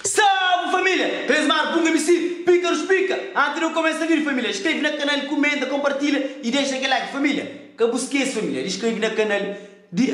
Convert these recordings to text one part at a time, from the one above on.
Salve família! Três mar punga misi píkarus pika anti de kumesa vidi família Inskreve na kanal kumenta konpartilha i dexa kel like família Ka bu skese família di skreve na kanal di.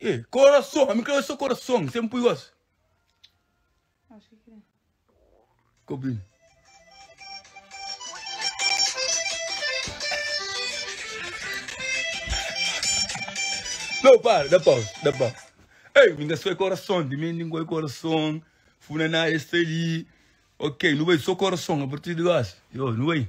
E corason, ami crê so corason, sem pui gosi. Acho que crê. Copinho. Não, para, dá pausa, dá pausa. Ei, minha sua coração, de mim ninguém coração, funa na este ali. Ok, não vai só coração, a partir de agora. Eu, não vai.